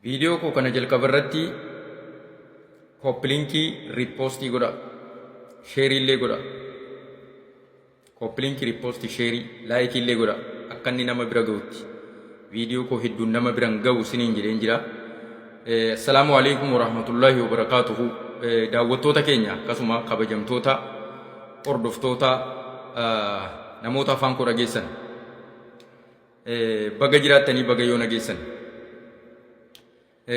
Viidiyoo koo kana jalqaba irratti kooppiliinkii riippoostii godha. Sheerii illee godha. Kooppiliinkii riippoostii sheerii laayikii illee godha. Akka inni nama bira gahutti. Viidiyoo koo hedduun nama biran gahu siniin jedheen jira. Assalaamu alaikum warahmatullaahi wabarakaatuhu. Daawwattoota keenya akkasuma kabajamtoota hordoftoota namoota afaan koo dhageessan. Baga jiraattanii baga yoo nageessan.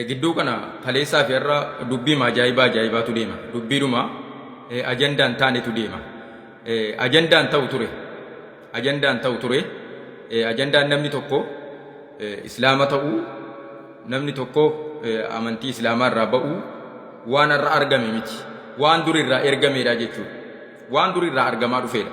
Gidduu kana kaleessaa fi har'a dubbiima ajaa'ibaa ajaa'ibaatu deema. Dubbiidhuma ajandaan taanetu deema. Ajandaan ta'u ture. Ajandaan ta'u ture. Ajandaan namni tokko islaama ta'uu namni tokko amantii islaamaa irraa ba'uu waan har'a argame miti. Waan durirraa ergameedha jechuudha. Waan durirraa argamaa dhufeedha.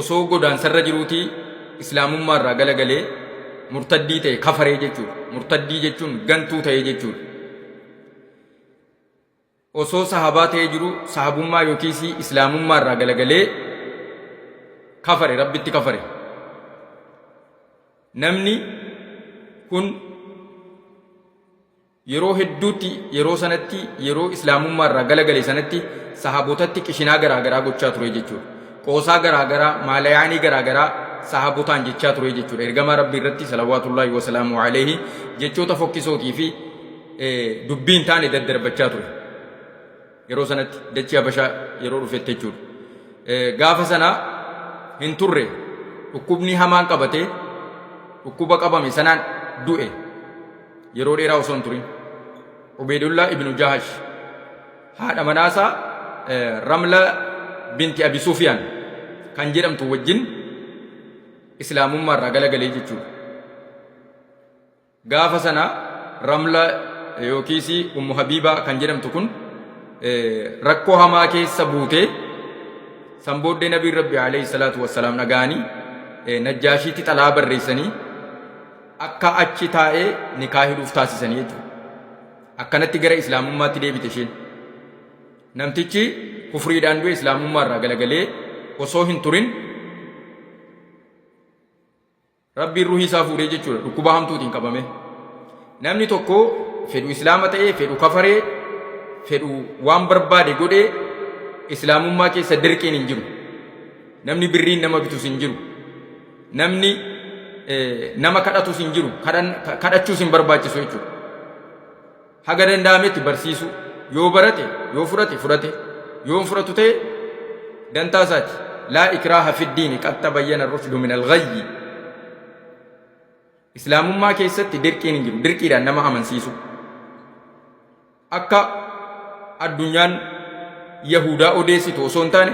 osoo godaansarra jiruutii islaamummaa irraa galagalee murtaddii ta'e kafaree jechuudha. Murtaddii jechuun gantuu ta'e jechuudha. Osoo sahabaa ta'ee jiru sahabummaa yookiis islaamummaa irraa galagalee kafare rabbitti kafare. Namni kun Yeroo hedduutti yeroo sanatti yeroo Islaamummaa irraa gala gale sanatti sahabotatti qishinaa garaa garaa gochaa ture jechuudha. Qoosaa garaa garaa, maalayaanii garaa garaa sahabotaan jechaa ture jechuudha. Ergamaa Rabbii irratti salawaatullaahi wa salaamu alayhi jechoota fokkisootii fi dubbii hin taane daddarbachaa ture. Yeroo sanatti dachii Habashaa yeroo dhufetti jechuudha. Gaafa sana hin turre dhukkubni hamaan qabatee dhukkuba qabame sanaan du'e yeroo dheeraa osoo hin turin. Ubeedullaa ibnu Jahash haadha manaasaa Ramla binti Abi Sufiyaan kan jedhamtu wajjin islaamummaa irraa galagalee jechuudha. Gaafa sana Ramla yookiis Ummu Habiibaa kan jedhamtu kun rakkoo hamaa keessa buutee san booddee Nabiin Rabbi alayhi salaatu wassalaam dhaga'anii Najjaashiitti xalaa barreessanii akka achi taa'ee nikaa hidhuuf taasisanii jechuudha. Akkanatti gara Islaamummaatti deebite isheen. Namtichi kufriidhaan du'e Islaamummaa irraa galagalee osoo hin turin Rabbiin ruhii isaa fuudhee jechuudha dhukkuba hamtuutiin qabame. Namni tokko fedhu islaama ta'ee fedhu kafaree fedhu waan barbaade godhee islaamummaa keessa dirqiin hin jiru. Namni birriin nama bitus hin jiru. Namni nama kadhatus hin jiru. Kadhachuus hin barbaachisu jechuudha. Haga danda'ametti barsiisuu. Yoo barate, yoo fudhate fudhate, yoo hin fudhatu ta'e dantaa isaati. Laa ikraaha fiddiini qad tabayyana rushdu min al-ghayyi. Islaamummaa keessatti dirqiin hin jiru. Dirqiidhaan nama amansiisu. Akka addunyaan Yahudaa odeessitu osoo hin taane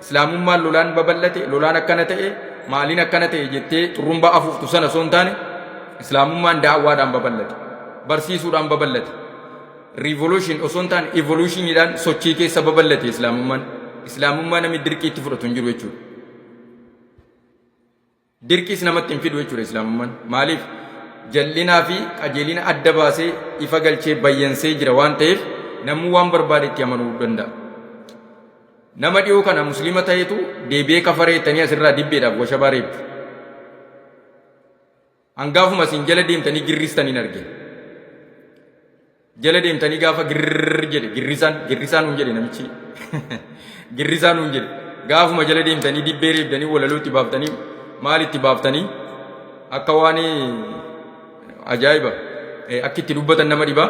islaamummaan lolaan babal'ate lolaan akkana ta'e maaliin akkana ta'e jettee xurrumbaa afuuftu sana osoo hin taane islaamummaan daawwaadhaan babal'ate barsiisuudhaan babal'ate riivoluushin osoo hin taane evoluushiniidhaan sochii keessa babal'ate islaamummaan islaamummaa namni dirqii itti fudhatu hin jiru jechuudha. Dirqiis namatti hin fidu jechuudha Islaamummaan. Maaliif? Jal'inaa fi qajeelina adda baasee ifa galchee bayyansee jira waan ta'eef namuu waan barbaade itti amanuu danda'a. Nama dhiyoo kana musliima ta'etu deebi'ee kafaree jettanii asirraa dibbeedhaaf washabaa reebdu. Hangaafuma isin jala deemtanii girristan hin argine. Jala deemtanii gaafa girrrr jedhe girrisaan girrisaa nuun jedhe namichi girrisaa nuun jedhe gaafuma jala deemtanii dibbee reebdanii walaloo itti baaftanii maal itti baaftanii akka waan ajaa'iba akki itti dubbatan nama dhibaa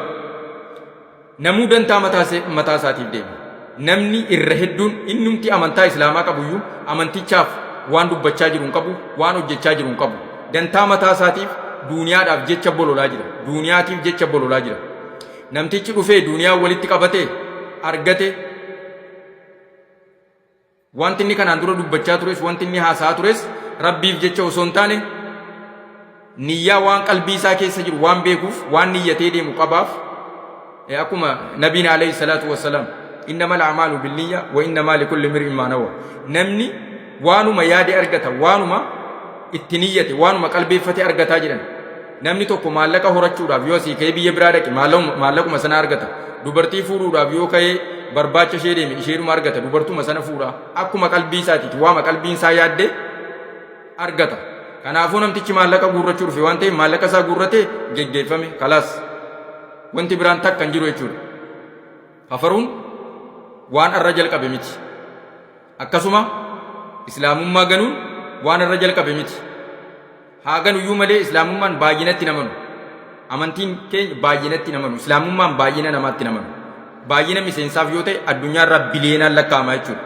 namuu dantaa mataa isaatiif deema. Namni irra hedduun innumti amantaa Islaamaa qabuyyuu amantichaaf waan dubbachaa jiru hin qabu, waan hojjechaa jiru hin qabu. Dantaa mataa isaatiif duuniyaadhaaf jecha bololaa jira. Duuniyaatiif jecha bololaa jira. Namtichi dhufee duuniyaa walitti qabate, argate, Wanti inni kanaan dura dubbachaa tures, wanti inni haasa'aa tures Rabbiif jecha osoo hin taane niyyaa waan qalbii isaa keessa jiru waan beekuuf waan niyyatee deemu qabaaf. Eh, Akkuma nabiin alayhi salaatu wassalaam innamal a'maalu binniyya wa innamaa likulli imri'in maa nawa. Namni waanuma yaade argata, waanuma itti niyyate, waanuma qalbeeffate argataa jedhan. Namni tokko maallaqa horachuudhaaf yoo asii ka'ee biyya biraa dhaqe maallaqa- maallaquma sana argata. Dubartii fuudhuudhaaf yoo ka'ee barbaacha ishee deeme isheedhuma argata. Dubartuma sana fuudha. Akkuma qalbii isaatiiti waama qalbiin isaa yaadde argata. Kanaafuu namtichi maallaqa guurrachuu dhufe waan ta'eef maallaqa isaa guurratee geggeeffame kalaas. Wanti biraan takka hin jiru jechuudha. Kafaruun waan arra jalqabe miti. Akkasuma islaamummaa ganuun waan irra jalqabe miti. Haa ganuyyuu malee islaamummaan baay'inatti hin amanu. Amantiin keenya baay'inatti hin amanu. Islaamummaan baay'ina namaatti hin amanu. Baay'ina miseensaaf yoo ta'e addunyaa irraa biliyeenaan lakkaa'ama jechuudha.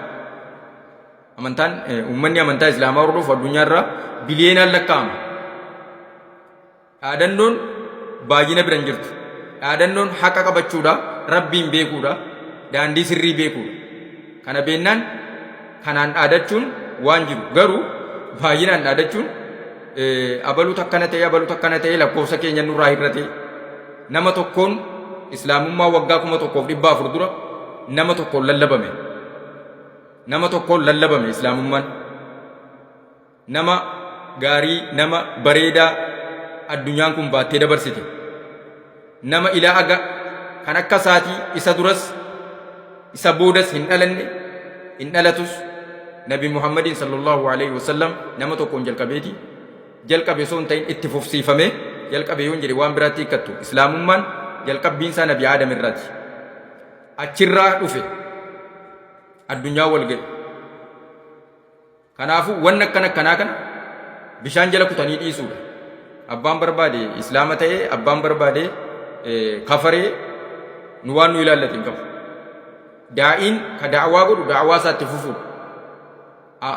Amantaan uummanni amantaa islaamaa hordofu addunyaa irraa biliyeenaan lakkaa'ama. Dhaadannoon baay'ina bira hin jirtu. Dhaadannoon haqa qabachuudha, Rabbiin beekuudha, daandii sirrii beekuudha. Kana beennaan kanaan dhaadachuun waan jiru. Garuu baay'inaan dhaadachuun abaluutu akkana ta'e, abaluutu akkana ta'e lakkoofsa keenya nurraa hir'ate. Nama tokkoon islaamummaa waggaa kuma tokkoof dhibba afur dura nama tokkoon lallabame. Nama tokkoon lallabame islaamummaan. Nama gaarii, nama bareedaa addunyaan kun baattee dabarsite. Nama ilaa aga kan akka isaatii isa duras isa boodas hin dhalanne hin dhalatus Nabi Muhammadiin sallallahu alaihi wasallam nama tokkoon jalqabeeti. Jalqabe osoo hin ta'in itti fufsiifame jalqabe yoon jedhe waan biraatti hiikkattu. Islaamummaan jalqabbiin isaa Nabi Aadam irraati. Achirraa dhufe addunyaa wal ga'e. Kanaafuu wanni akkan akkanaa kana bishaan jala kutanii dhiisuudha. Abbaan barbaade islaama ta'ee abbaan barbaade kafaree nu waan nu ilaallate hin qabu. Daa'iin ka da'awaa godhu da'awaa isaatti fufuudha.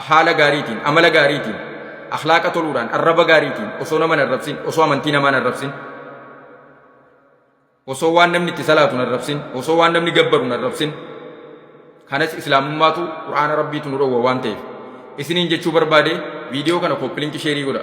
Haala gaariitiin, amala gaariitiin, akhlaaqa toluudhaan, arraba gaariitiin, osoo nama hin arrabsin, osoo amantii namaa hin arrabsin. Osoo waan namni itti salaatu hin arrabsin, osoo waan namni gabbaru hin arrabsin. Kanas Islaamummaatu Qur'aana Rabbiitu nu dhowwa waan ta'eef. Isiniin jechuu barbaade viidiyoo kana kooppilinki sheerii godha.